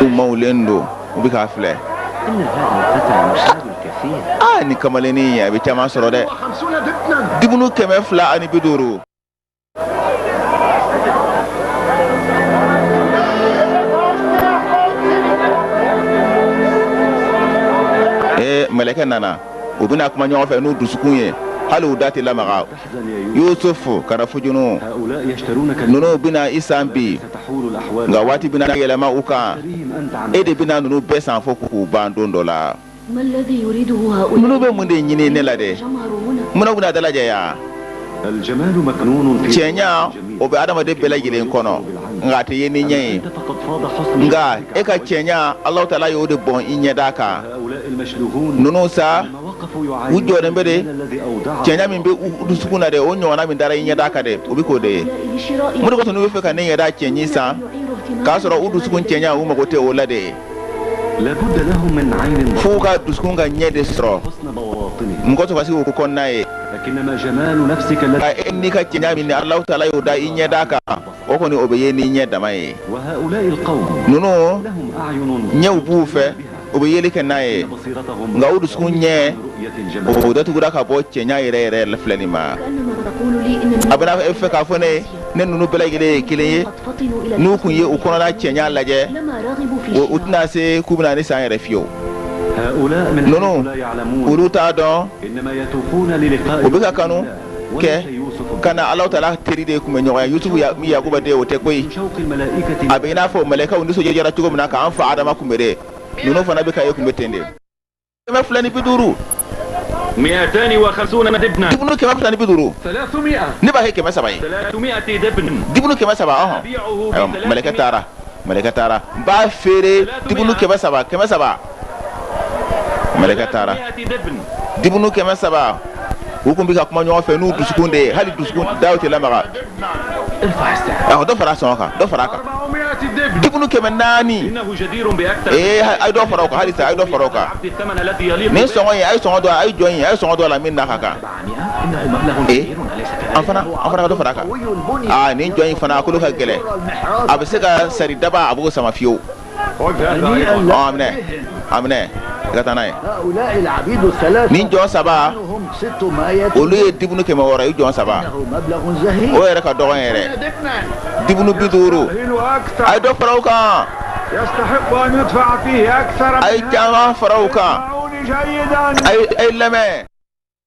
S1: u mawulen don u bɛ k'a
S6: filɛ aa nin kamalennin a
S1: bɛ caman sɔrɔ dɛ
S5: dibunu kɛmɛ fila
S1: ani bi duuru ee mɛlɛkɛ nana u bɛna kuma ɲɔgɔn fɛ n'u dusukun ye hali u da tɛ lamaga yusufu kana
S4: fujunu ninnu bɛna i
S1: san bi
S4: nka waati bɛna
S1: yɛlɛma u kan e de
S4: bɛna ninnu bɛɛ san
S1: fo k'u ban don dɔ la
S3: ninnu bɛ mun de ɲini ne
S1: la dɛ mun na u
S3: bɛna
S1: dalajɛ
S4: yan cɛɲa o
S1: bɛ adamaden bɛɛ lajɛlen kɔnɔ nka a tɛ ye ni ɲɛ ye
S4: nka e ka cɛɲa alahu
S1: taala y'o de bɔn i ɲɛda kan
S4: ninnu sa u jɔlen bɛ
S1: de
S4: cɛɲa min bɛ u
S1: dusukun na dɛ o ɲɔgɔnna min dara i ɲɛda kan dɛ o bɛ k'o de ye mun de kosɔn
S3: u bɛ fɛ ka ne
S1: ɲɛda cɛɲi san k'a sɔrɔ u dusukun cɛɲa u mago tɛ o la dɛ
S4: fo u ka dusukun ka
S1: ɲɛ de
S4: sɔrɔ min k'u to ka se k'u kɔnɔna ye nka e ni ka cɛɲa
S1: min ala taala y'o da i ɲɛda kan o kɔni o bɛ ye n'i ɲɛ dama ye
S4: ninnu ɲɛw b'u fɛ
S1: u bɛ yeli kɛ n'a ye nka u
S4: dusukun
S1: ɲɛ
S4: o datugura ka
S1: bɔ cɛɲa yɛrɛ yɛrɛ la filɛli ma
S3: a bɛ n'a fɔ e k'a fɔ ne ye
S1: ne ninnu bɛɛ lajɛlen ye kelen ye
S3: n'u tun ye u
S1: kɔnɔna cɛɲa
S3: lajɛ u tɛna se
S1: k'u
S3: bɛna
S1: nin san yɛrɛ
S4: fiyewu ninnu olu t'a dɔn u bɛ ka kanu kɛ ka
S1: na ala
S4: taala
S1: teri de kunbɛn ɲɔgɔn ye yusufu min yakuba den o tɛ
S4: koyi a bɛ i n'a fɔ
S1: mɛlɛkaw nisɔndiyara cogo min na k'an fa adama kunbɛn dɛ ninnu fana bɛ ka e kunbɛn ten de kɛmɛ fila ni bi duuru
S2: dibunu kɛmɛ fila ni bi
S1: duuru ne b'a kɛ kɛmɛ
S2: saba ye dibunu kɛmɛ saba ɔhɔn
S1: mɛlɛkɛ
S2: taara
S1: mɛlɛkɛ taara n b'a feere dibunu kɛmɛ saba kɛmɛ saba mɛlɛkɛ
S2: taara dibunu kɛmɛ
S1: saba u tun bɛ ka kuma ɲɔgɔn fɛ n'u dusukun de ye hali dusukun daw tɛ lamaga
S2: awɔ dɔ fara sɔngɔ kan dɔ fara
S1: a kan dibunu
S5: kɛmɛ naani
S2: ee a ye dɔ fara o
S1: kan halisa a ye dɔ fara o
S2: kan nin sɔngɔ in a ye sɔngɔ don a
S1: ye jɔn in a ye sɔngɔ don a la min n'a ka
S2: kan e fana dɔ fara a kan
S1: aa nin jɔn in fana a kolo ka gɛlɛn a bɛ se ka sari daba a b'o sama fiyewu
S5: minɛ a
S1: minɛ i ka taa n'a
S6: ye nin jɔn saba olu ye dibunu kɛmɛ
S1: wɔɔrɔ ye jɔn saba
S6: o yɛrɛ ka dɔgɔn
S1: yɛrɛ
S6: dibunu bi
S1: duuru a ye
S5: dɔ fara a kan a ye caman fara
S1: a kan
S5: a ye lamɛn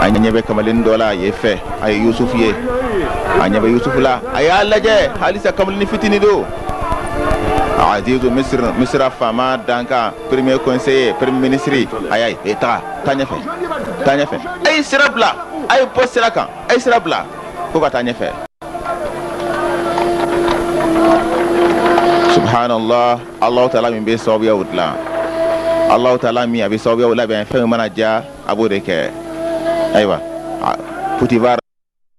S1: a ɲɛ bɛ kamalennin dɔ la yen fɛ a ye yusufu ye a ɲɛ bɛ yusufu la a y'a lajɛ halisa kamalennin fitini don azizu misiri misira faama dankan premier conseiller premier ministre a y'a ye e taga taa ɲɛfɛ taa ɲɛfɛ a ye sira bila a ye bɔ sira kan a ye sira bila fo ka taa ɲɛfɛ subhanallah Ala tala min bɛ sababuyaw dilan ala tala min a bɛ sababuyaw labɛn fɛn mana diya a b'o de kɛ ayiwa putifari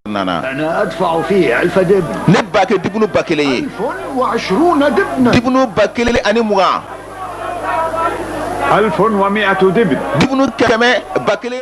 S1: nana
S6: ne b'a kɛ dibunu
S1: ba kelen
S6: ye dibunu ba
S1: kelen ani
S5: mugan dibunu kɛmɛ
S1: ba kelen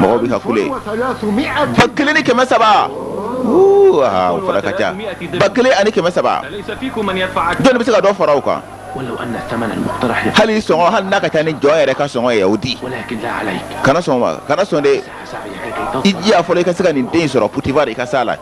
S1: mɔgɔw bɛ ka kule
S6: ba kelen ni kɛmɛ
S1: saba fara ka ca ba kelen ani kɛmɛ saba
S2: jɔnni bɛ se ka dɔ fara o kan hali sɔngɔ hali
S1: n'a ka ca ni jɔn yɛrɛ ka sɔngɔ ye o
S2: di kana sɔn kana
S1: sɔn de i
S2: jija fɔlɔ i ka se ka nin
S1: den sɔrɔ putivar i ka se la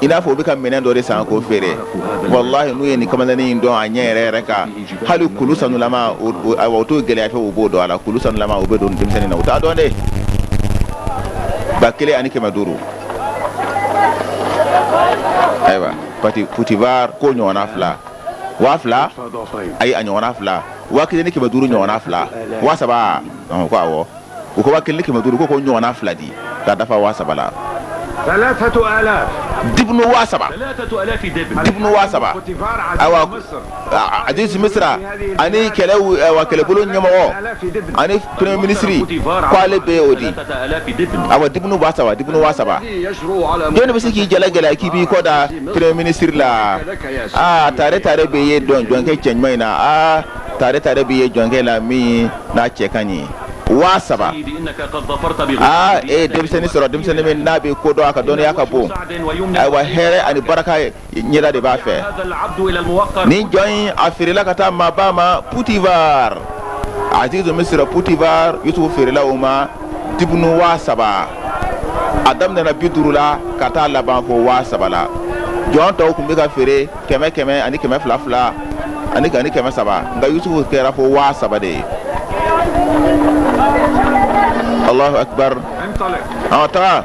S1: i n'a
S4: fɔ u bɛ ka minɛn dɔ
S1: de san k'o feere walahi n'u ye nin kamalennin in dɔn a ɲɛ yɛrɛ yɛrɛ kan hali kulu sanulama o t'o gɛlɛya fɛ u b'o don a la kulu sanulama u bɛ don denmisɛnnin na u t'a dɔn dɛ ba kelen ani kɛmɛ duuru ayiwa pati putivar ko ɲɔgɔnna fila waa fila ayi a ɲɔgɔnna fila waa kelen ni kɛmɛ duuru ɲɔgɔnna fila waa saba ko awɔ u ko kelen kɛmɛ duuru ko ko ɲɔgɔnna fila di ka dafa waa saba
S5: la
S1: dibun waa
S2: saba dibun waa saba
S1: ayiwa azizi misira ani kɛlɛ kɛlɛbolo ɲɛmɔgɔ ani premier minisiri k' ale bɛ o di a
S2: wa dibun waa
S1: saba dibun waa saba jɔn bɛ se k'i jala gɛlɛya k'i b'i kɔ da premier minisiri la aa tare tare b'e ye jɔn jɔnkɛ cɛ ɲuman in na aa tare tare b'e ye jɔnkɛ la min n'a cɛ ka ɲi waa
S2: saba aa e ye denmisɛnnin sɔrɔ
S1: denmisɛnnin min n'a bɛ ko dɔn a ka dɔnniya ka bon ayiwa hɛrɛ ani baraka ɲɛda de b'a fɛ
S2: nin jɔn in a
S1: feerela ka taa maaba ma putivar azizi misira putivar yusufu feerela o ma dibunu waa saba a daminɛna bi duuru la ka taa laban fo waa saba la jɔn tɔw tun bɛ ka feere kɛmɛ kɛmɛ ani kɛmɛ fila fila ani ani kɛmɛ saba nka yusufu kɛra fo waa saba de ye allahu akbar an taga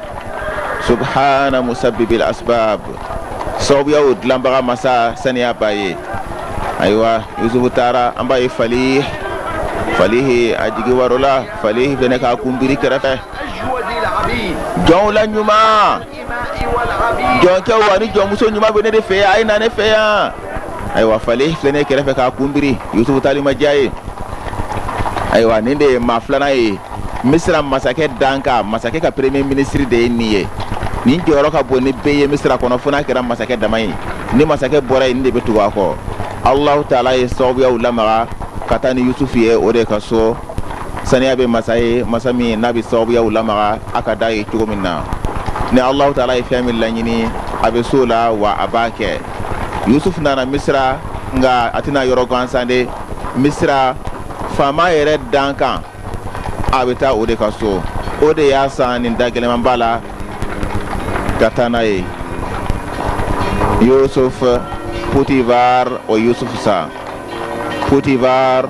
S1: subhana musabibil asbab sababuyaw dilanbaga masa saniya b'a ye ayiwa yusufu taara an b'a ye fali falihi a jigi waarola falihi fɛnɛ k'a kunbiri kɛrɛfɛ jɔnw la ɲuman jɔnkɛw ani jɔnmuso ɲuman bɛ ne de fɛ yan a ye na ne fɛ yan ayiwa falihi filɛ nin ye kɛrɛfɛ k'a kun biri yusufu taali ma diya a ye ayiwa nin de ye maa filanan ye misira masakɛ dankan masakɛ ka premier minisiri de ye nin ye nin jɔyɔrɔ ka bon ni bɛɛ ye misira kɔnɔ fo n'a kɛra masakɛ dama ye ni masakɛ bɔra yen nin de bɛ tugu a kɔ alahu taala ye sababuyaw lamaga ka taa ni yusufu ye o de ka so saniya bɛ masa ye masa min n'a bɛ sababuyaw lamaga a ka di a ye cogo min na ni alahu taala ye fɛn min laɲini a bɛ so la wa a b'a kɛ yusufu nana misira nka a tɛ na yɔrɔ gansan de misira faama yɛrɛ dankan a bɛ taa o de ka so o de y'a san nin da gɛlɛnman ba la ka taa n'a ye yusuf putivar o yusuf san putivar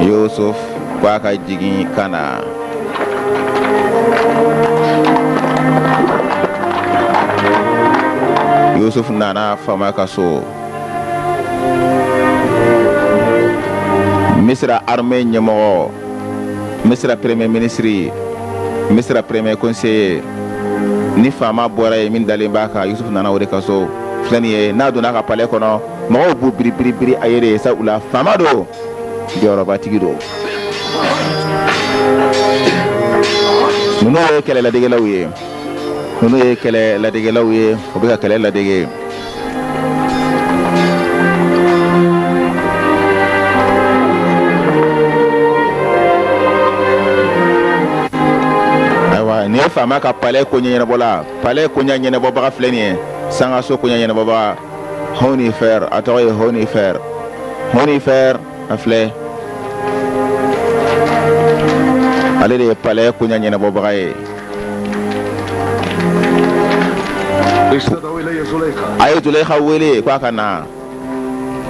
S1: yusuf ko a ka jigin ka na yusuf nana faama ka so misira armée ɲɛmɔgɔ misira premier ministre misira premier conseiller ni faama bɔra ye min dalen b'a kan yusuf nana o de ka so filɛ nin ye n'a donna a ka palais kɔnɔ mɔgɔw b'u biri biri biri a yɛrɛ ye sabula faama don jɔyɔrɔbatigi don ninnu ye kɛlɛ ladegelaw ye ninnu ye kɛlɛ ladegelaw ye u bɛ ka kɛlɛ ladege ayiwa nin ye faama ka palais koɲɛ ɲɛnabɔla palais koɲɛ ɲɛnabɔbaga filɛ nin ye sangaso koɲɛ ɲɛnabɔbaga honifer a tɔgɔ ye honifer honifer a filɛ ale de ye palais koɲa ɲɛnabɔbaga ye a ye zulayiha wele ko a ka na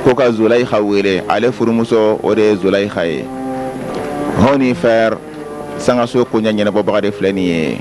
S1: ko ka zulayiha wele ale furumuso o de ye zulayiha ye honifer sangaso koɲa ɲɛnabɔbaga de filɛ nin ye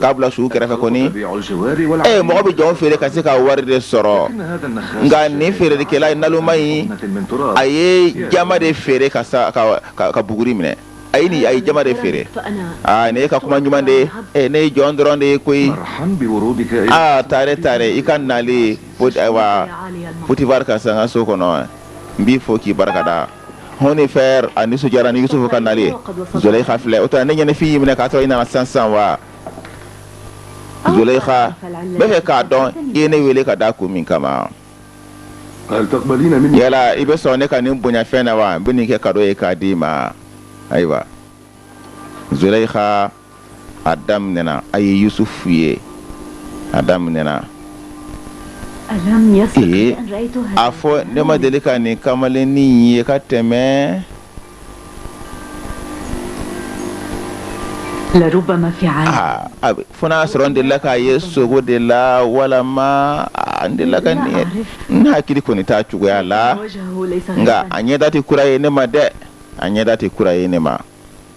S1: k'a bila sugu kɛrɛfɛ kɔni ee eh, mɔgɔ bɛ jɔn feere ka se ka wari de sɔrɔ nka nin feerelikɛla ye naloma ye a ye jaman de feere ka ka buguri minɛ a ye nin a ye jaman de feere aa ah, ne ka kuma ɲuman de ee eh, ne ye jɔn dɔrɔn de ye koyi aa ah, taare taare i ka nali ayiwa potifar ka sangaso kɔnɔ n b'i fo k'i barika da honifer a nisɔndiyara ni yusufu ka nali ye zulayiha filɛ o tɛ ne ɲɛnafin y'i minɛ k'a sɔrɔ i nana sisan sisan wa zulayiha n bɛ fɛ k'a dɔn i ye ne wele ka da kun min kama yala i bɛ sɔn ne ka nin bonyafɛn na wa n bɛ nin kɛ kado ye k'a d'i ma ayiwa zulayiha a daminɛna a ye yusufu ye a daminɛna ee a fɔ ne ma deli ka nin kamalennin ye ka tɛmɛ ah, fo n'a sɔrɔ n delila k'a ye sugo de la walama n delila ka nin ye n hakili kɔni t'a cogoya la nka a ɲɛda tɛ kura ye ne ma dɛ a ɲɛda tɛ kura ye ne ma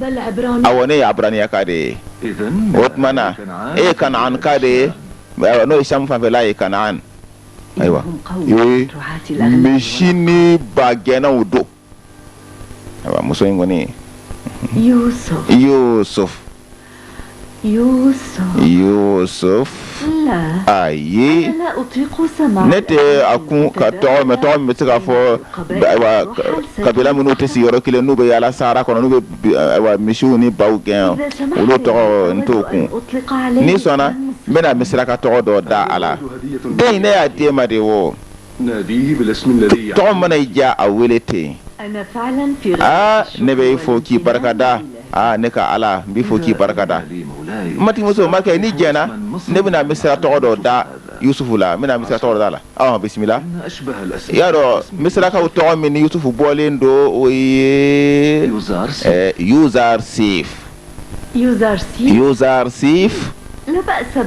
S1: awɔ ne ye aburaniyaka de ye o tuma na e ye kanaanka de ye n'o ye sam fanfɛla ye kanaan ayiwa misi ni bagɛnnaw don ayiwa muso in kɔni yusuf ayi ne tɛ a kun ka tɔgɔ mɛn tɔgɔ min bɛ se k'a fɔ kabila minnu tɛ sigi yɔrɔ kelen n'u bɛ yaala sahara kɔnɔ n'u bɛ misiw ni baw gɛn olu tɔgɔ n t'o kun n'i sɔnna n bɛna misira ka tɔgɔ dɔ da a la den in ne y'a di e ma de wo tɔgɔ mana i diya a wele ten aa ne bɛ e fo k'i barikada aa ne ka ala n b'i fo k'i barikada matigimuso makɛ n'i jɛnna ne bɛna misira tɔgɔ dɔ da yusufu la n bɛna misira tɔgɔ dɔ da a la aw bisimila i y'a dɔn misirakaw tɔgɔ min ni yusufu bɔlen don o ye yuzarsif yuzarsif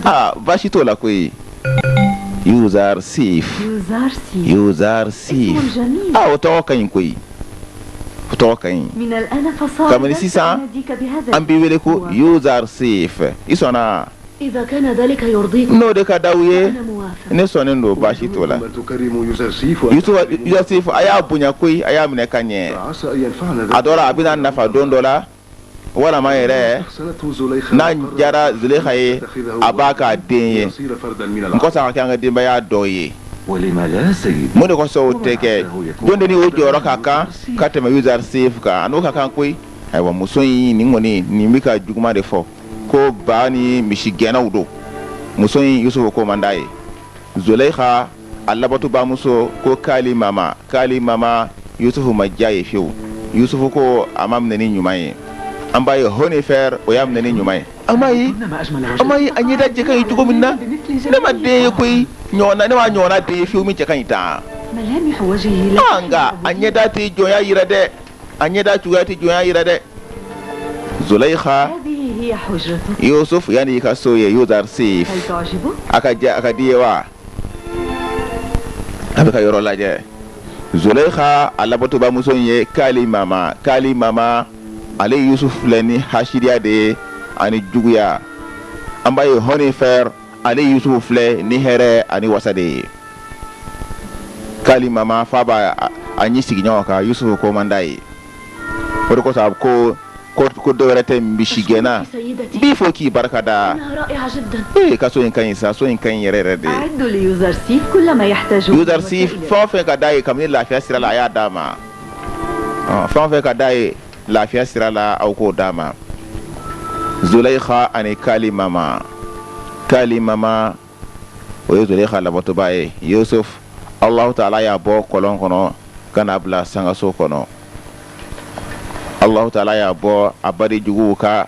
S1: aa baasi t'o la koyi yuzarsif yuzarsif o tɔgɔ ka ɲi koyi o tɔgɔ ka ɲi kabini sisan an b'i wele ko yuzarsif i sɔnna n'o de ka d'aw ye ne sɔnnen don baasi t'o la a y'a bonya koyi a y'a minɛ ka ɲɛ a dɔ la a bɛna nafa don dɔ la walima yɛrɛ n'a diyara zulayiha ye a b'a k'a den ye n ko sa ka kɛ an ka denbaya dɔ ye mun de kosɔn o tɛ kɛ jɔn de ni o jɔyɔrɔ ka kan ka tɛmɛ yuzarsif kan a n'o ka kan koyi ayiwa muso in nin kɔni nin bɛ ka juguman de fɔ ko ba ni misi gɛnnaw don muso in yusufu ko man d'a ye Zolɛyiha a labatobaamuso ko Kalimama Kalimama Yusufu ma diya a ye fiyewu. Yusufu ko a ma minɛ ni ɲuman ye. An b'a ye Honifɛr o y'a minɛ ni ɲuman ye. A m'a ye a m'a ye a ɲɛda cɛ ka ɲi cogo min na. Ne ma den ye koyi ɲɔgɔnna ne m'a ɲɔgɔnna den ye fiyewu min cɛ ka ɲi tan. Aa nka a ɲɛda tɛ jɔnya yira dɛ! a ɲɛda cogoya tɛ jɔnya yira dɛ zulayiha yusufu yan y'i ka so ye yuzarsif a ka a ka d'i ye wa a bɛ ka yɔrɔ lajɛ zulayiha a labatobaamuso in ye kalimama kalimama ale yusufu filɛ ni hasidiya de ye ani juguya an b'a ye honifɛr ale yusufu filɛ ni hɛrɛ ani wasa de ye kalimama f'a b'a ɲin sigi ɲɔgɔn kan yusufu ko man d'a ye o de kosɔn a ko ko ko dɔ wɛrɛ tɛ misi gɛnna n b'i fo k'i barika da ee ka so in ka ɲi sa so in ka ɲi yɛrɛ yɛrɛ de yuzarsif fɛn o fɛn ka d'a ye kabini lafiya sira la a y'a d'a ma fɛn o fɛn ka d'a ye lafiya sira la aw k'o d'a ma zolaiha ani kalimama kalimama o ye zolaiha labatobaa ye yusuf alahu taala y'a bɔ kɔlɔn kɔnɔ ka n'a bila sangaso kɔnɔ alahu taala y'a bɔ a baden juguw ka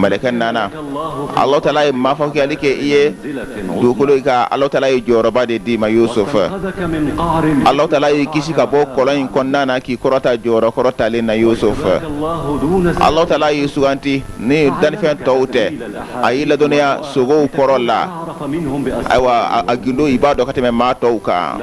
S1: Mɛlɛkɛ nana ala tala ye maa fɔ kɛli kɛ i ye dugukolo in kan ala tala ye jɔyɔrɔba de d'i ma Yusufu ala tala y'i kisi ka bɔ kɔlɔn in kɔnɔna na k'i kɔrɔta jɔyɔrɔ kɔrɔtalen na Yusufu ala tala y'i suganti ni danfɛn tɔw tɛ a y'i ladɔnniya sogow kɔrɔ la ayiwa a gundo i b'a dɔn ka tɛmɛ maa tɔw kan